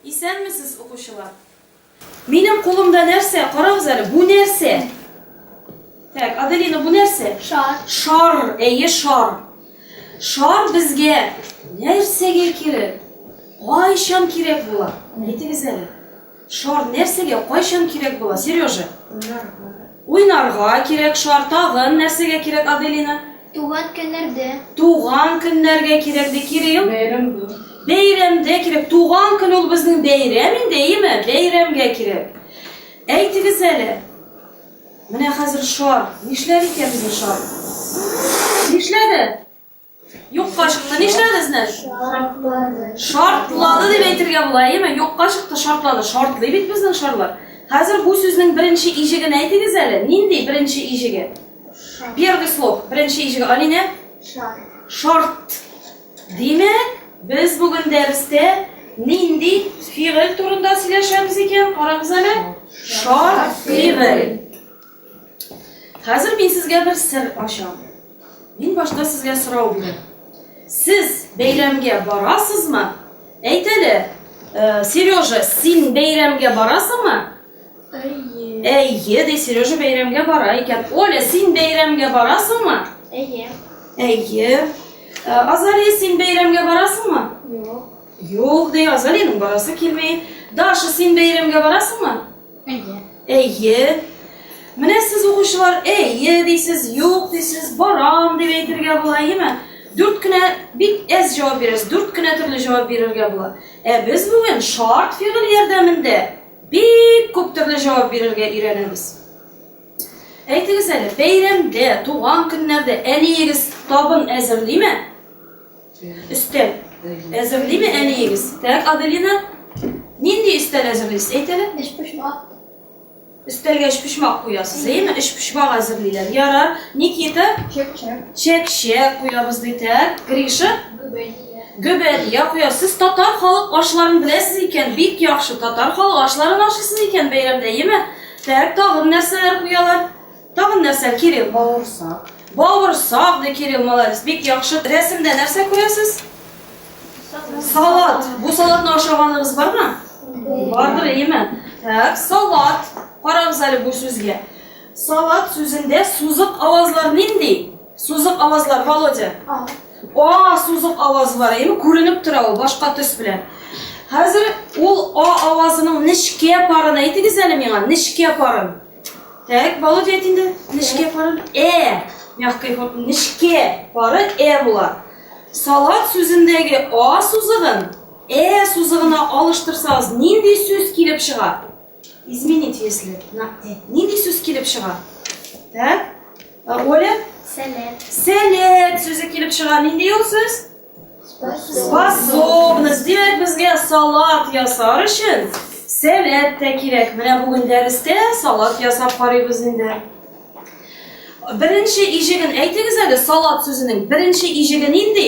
Исәнмесез, укучылар. Минем кулымда нәрсә? Карагыз әле, бу нәрсә? Так, Аделина, бу нәрсә? Шар. Шар, әйе, шар. Шар безгә нәрсәгә кирәк? Кайчан кирәк була? Әйтегез әле. Шар нәрсәгә, кайчан кирәк була, Сережа? Уйнарга. Уйнарга кирәк шар. Тагын нәрсәгә кирәк, Аделина? Туган көннәрдә. Туган көннәргә кирәк, ди Кирилл. Бәйрәмдә. Бәйрәмдә кирәк. Туган көн ул безнең бәйрәм инде, әйеме? Бәйрәмгә кирәк. Әйтегез әле. Менә хәзер шар. Нишләр икән безнең шар? Нишләде? Юкка чыкты. Нишләде сезне? Шартлады. Шартлады дип әйтергә була, әйеме? Юкка чыкты, шартлады. Шартлый бит безнең шарлар. Хәзер бу сүзнең беренче иҗеген әйтегез әле. Нинди беренче иҗеге? Первый слог, беренче иҗеге. Алинә? Шарт. Шарт. Димәк, без бүген дәрестә нинди фигыль турында сөйләшәбез икән? Карагыз әле. Шарт фигыль. Хәзер мин сезгә бер сер ачам. Мин башта сезгә сорау бирәм. Сез бәйрәмгә барасызмы? Әйт әле, э, Сережа, син бәйрәмгә барасыңмы? Әйе. Әйе, ди Сережа бәйрәмгә бара икән. Оля, син бәйрәмгә барасыңмы? Әйе. Әйе. Э, Азалия, син бәйрәмгә барасыңмы? Юк. Юк, ди Азалиянең барасы килми. Даша, син бәйрәмгә барасыңмы? Әйе. Әйе. Менә сез, укучылар, әйе дисез, юк дисез, барам дип әйтергә була, әйеме? Дүрт кенә, бик әз җавап бирәсез, дүрт кенә төрле җавап бирергә була. Ә без бүген шарт фигыль ярдәмендә бик күп төрле җавап бирергә өйрәнәбез. Әйтегез әле, бәйрәмдә, туган көннәрдә әниегез табын әзерлиме? Өстәл. Әзерлиме әниегез? Так, Аделина, нинди өстәл әзерлисез? Әйт әле. Өчпочмак. Өстәлгә өчпочмак куясыз, әйеме? Өчпочмак әзерлиләр. Яра, Никита? Чәк-чәк. Чәк-чәк куябыз ди, так. Гриша? Гөбәдия. Гөбәдия куябыз. Сез татар халык ашларын беләсез икән, бик яхшы. Татар халык ашларын ашыйсыз икән бәйрәмдә, әйеме? Так, тагын нәрсәләр куялар? Тагын нәрсә, Кирилл? Бавырсак. Бавырсак, ди Кирилл, молодец, бик яхшы. Рәсемдә нәрсә күрәсез? Салат. Бу салатны ашаганыгыз бармы? Бардыр, әйеме? Так, салат. Карагыз әле бу сүзгә. Салат сүзендә сузык авазлар нинди? Сузык авазлар, Володя. А. А сузык авазы бар, әйеме? Күренеп тора ул башка төс белән. Хәзер ул а авазының нечкә парын әйтегез әле миңа, нечкә парын. Так, Володя әйт инде. Нечкә пары. Э. Мягкой формы. Нечкә пары э була. Салат сүзендәге а сузыгын э сузыгына алыштырсагыз, нинди сүз килеп чыга? Изменить если на э. Нинди сүз килеп чыга? Так? Ә Оля? Сәләт. Сәләт сүзе килеп чыга. Нинди ул сүз? Способность. Димәк, безгә салат ясар өчен сәләт тә кирәк. Менә бүген дәрестә салат ясап карыйбыз инде. Беренче иҗеген әйтегез әле, салат сүзенең беренче иҗеге нинди?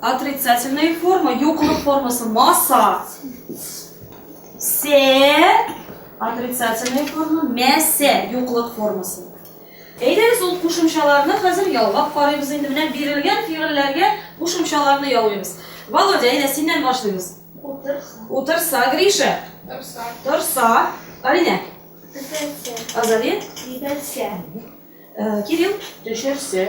Отрицательная форма, юклык формасы маса. Се, отрицательная форма, мәсе, юклык формасы. Әйдәгез ул кушымчаларны хәзер ялгап карыйбыз инде. Менә бирелгән фигыльләргә кушымчаларны яуыйбыз. Володя, әйдә синнән башлыйбыз. Утырса. Утырса, Гриша. Торса. Торса. Алинә. Төшерсә. Азали. Кидерсә. Э, Кирилл. Төшерсә.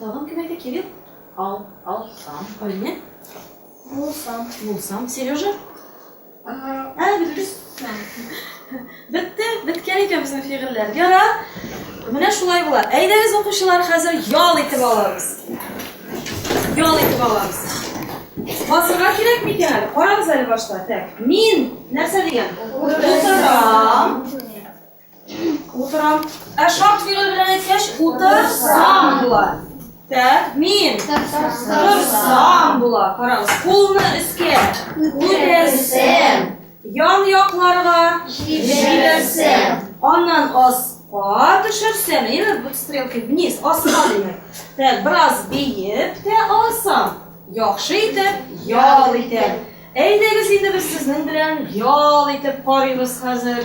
Тагын кем әйтә? Кирилл? Ал, алсам. Алинә? Булсам. Булсам. Сережа? Ә, бетерүз. Бетте, беткән икән безнең фигыльләр. Ярар. Менә шулай була. Әйдәгез, укучылар, хәзер ял итеп алабыз. Ял итеп алабыз. Басырга кирәк микән әле? Карагыз әле башта. Так. Мин нәрсә дигән? Утырам. Утырам. Ә шарт фигыль белән әйткәч, утырсам була. Так, мин торсам була. Карагыз, кулны өскә күтәрсәм, ян якларга җибәрсәм, аннан аска төшерсәм, әйе, бу стрелка вниз, аска димәк. Так, бераз биеп тә алсам, яхшы итеп ял итәм. Әйдәгез инде без сезнең белән ял итеп карыйбыз хәзер.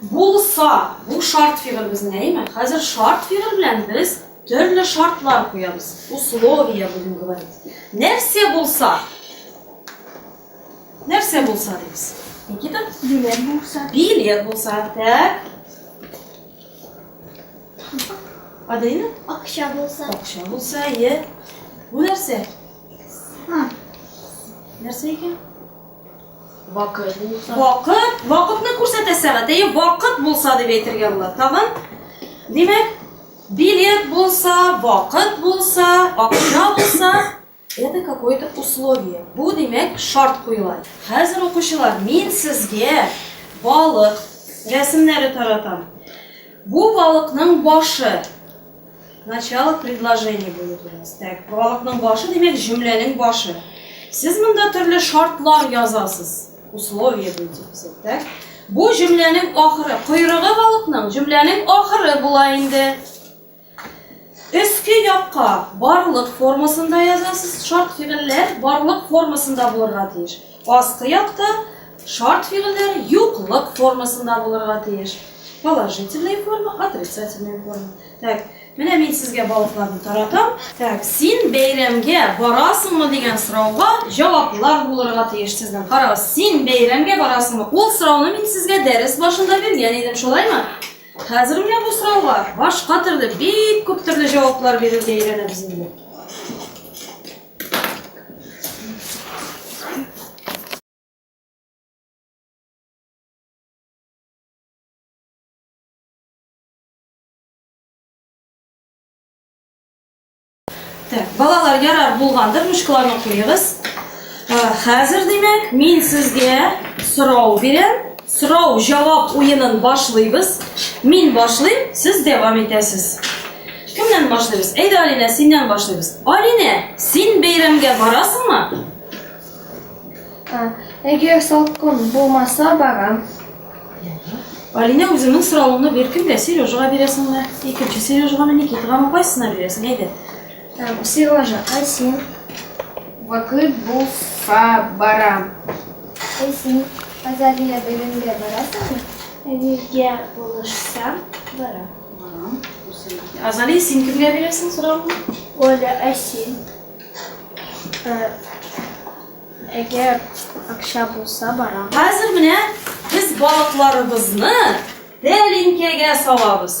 Булса, бу шарт фигыль безнең, әйеме? Хәзер шарт фигыль белән без төрле шартлар куябыз. Условия будем говорить. Нәрсә булса? Нәрсә булса дибез? Никита? Билет булса. Билет булса, так. Адина? Акча булса. Акча булса, е. Бу нәрсә? Нәрсә икән? Вакыт булса. Вакыт, вакытны күрсәтә сәгать. Әйе, вакыт булса дип әйтергә була. Тагын, димәк, билет булса, вакыт булса, акча булса, это какое-то условие. Бу, димәк, шарт куела. Хәзер укучылар, мин сезгә балык рәсемнәре таратам. Бу балыкның башы Начало предложения булып языгыз. Так, прологның башы, димәк, җөмләнең башы. Сез монда төрле шартлар язасыз. Условия буенча күрсәттек. Бу җөмләнең ахыры, койрыгы балыкның җөмләнең ахыры була инде. Өске якка барлык формасында язасыз. Шарт фигыльләр барлык формасында булырга тиеш. Аскы якта шарт фигыльләр юклык формасында булырга тиеш. Положительная форма, отрицательная форма. Так, менә мин сезгә балыкларны таратам. Так, син бәйрәмгә барасыңмы дигән сорауга җаваплар булырга тиеш сезнең. Карагыз, син бәйрәмгә барасыңмы? Ул сорауны мин сезгә дәрес башында биргән идем, шулаймы? Хәзер менә бу сорауга башка төрле, бик күп төрле җаваплар бирергә өйрәнәбез инде. Так, балалар ярар булгандыр, мушкаларны куегыз. Хәзер, димәк, мин сезгә сорау бирәм. Сорау, җавап уенын башлыйбыз. Мин башлыйм, сез дәвам итәсез. Кемнән башлыйбыз? Әйдә, Алинә, синнән башлыйбыз. Алинә, син бәйрәмгә барасыңмы? Әгәр салкын булмаса, барам. Алинә үзеңнең соравыңны беркемгә, Сережага бирәсеңме? Икенче Сережагамы, Никитагамы, кайсына бирәсең? Әйдә. Так, Сережа, а син? Вакыт булса барам. Ә син Азалия бәйрәмгә барасыңмы? Әнигә булышсам, барам. Барам. Азалия, син кемгә бирәсең сорауны? Оля, ә син? Э, Әгәр акча булса, барам. Хәзер менә без балыкларыбызны тәлинкәгә салабыз.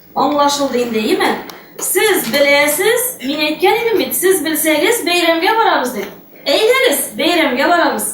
Аңлашылды инде, име? Сез беләсез, мин әйткән идем бит, сез белсәгез, бәйрәмгә барабыз дип. Әйдәгез, бәйрәмгә барабыз.